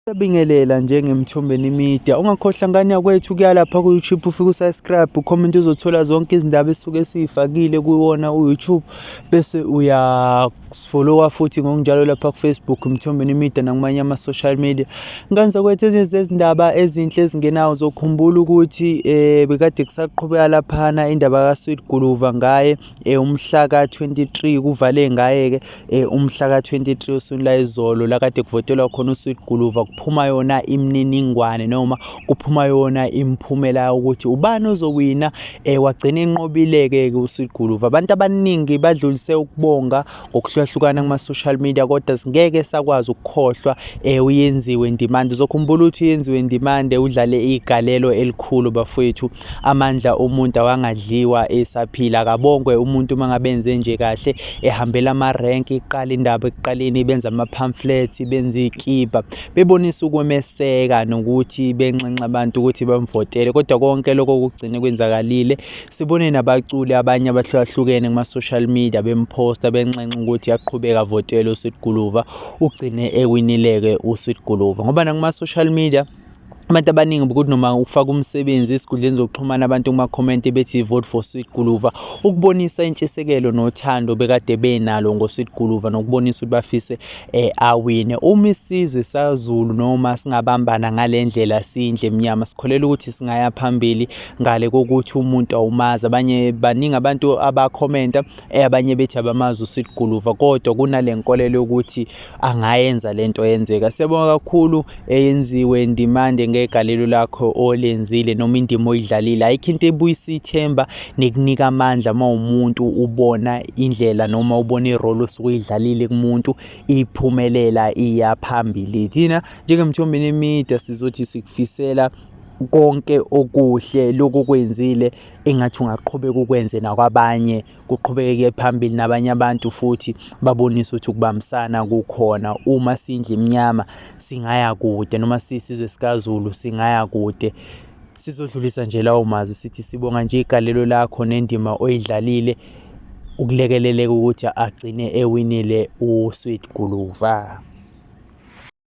Siyabingelela njengemthombeni media. Ungakhohlwa ngane yakwethu kuya lapha ku-YouTube ufike usubscribe ucomment uzothola zonke izindaba esuke siyifakile kuwona u-YouTube bese uyafollowa futhi ngokunjalo lapha ku-Facebook mthombeni media nakumanye ama-social media. Ngane zakwethu ezinye zezindaba ezinhle ezingenawo zokhumbula ukuthi um bekade kusaqhubeka laphana indaba ka-Sweet Guluva ngaye eh umhla ka-23 kuvale ngaye-ke eh umhla ka-23 oswini layizolo la kade kuvotelwa khona usweet guluva kuphuma yona imininingwane noma kuphuma yona imiphumela yokuthi ubani ozowina eh wagcina enqobile-ke-ke usweet guluva abantu abaningi badlulise ukubonga ngokuhlukahlukana kuma-social media kodwa singeke sakwazi ukukhohlwa eh uyenziwe ndimande uzokhumbula ukuthi uyenziwe ndimande udlale igalelo elikhulu bafowethu amandla omuntu awangadliwa esaphila akabongwe umuntu uma ngabe enze nje kahle ehambela ama-rank iqala indaba ekuqaleni benza ama-pamphlets benza iy'kibha bebonisa ukwemeseka nokuthi benxenxa abantu ukuthi bamvotele kodwa konke lokho kugcine kwenzakalile sibone nabaculi abanye abahlukahlukene kuma-social media bemphosta benxenxa ukuthi yaqhubeka votele usweet guluva ugcine ewinileke usweet guluva ngoba nakuma-social media abantu abaningi bokuthi noma ukufaka umsebenzi esikhundleni zokuxhumana abantu kuma-comment bethi vote for sweet guluva ukubonisa intshisekelo nothando bekade benalo ngosweet guluva nokubonisa ukuthi bafise eh, awine uma isizwe sazulu noma singabambana ngale ndlela sindle mnyama sikholela ukuthi singaya phambili ngale kokuthi umuntu awumazi abanye baningi abantu abakhomenta eh, abanye bethi abamazi usweet guluva kodwa kunale nkolelo yokuthi angayenza lento yenzeka siyabonga kakhulu eyenziwe ndimande ngegalelo lakho olenzile noma indima oyidlalile ayikho into ebuyisa ithemba nekunika amandla uma umuntu ubona indlela noma ubona irole osuke uyidlalile kumuntu iphumelela iya phambili thina njengemthombeni emide sizothi sikufisela konke okuhle lokho kwenzile engathi ungaqhubeka ukwenze nakwabanye kuqhubekeke phambili nabanye abantu futhi babonise ukuthi ukubambisana kukhona uma sindla imnyama singaya kude noma sisizwe sikazulu singaya kude sizodlulisa nje lawo mazwi sithi sibonga nje igalelo lakho nendima oyidlalile ukulekeleleka ukuthi agcine ewinile uSweet Guluva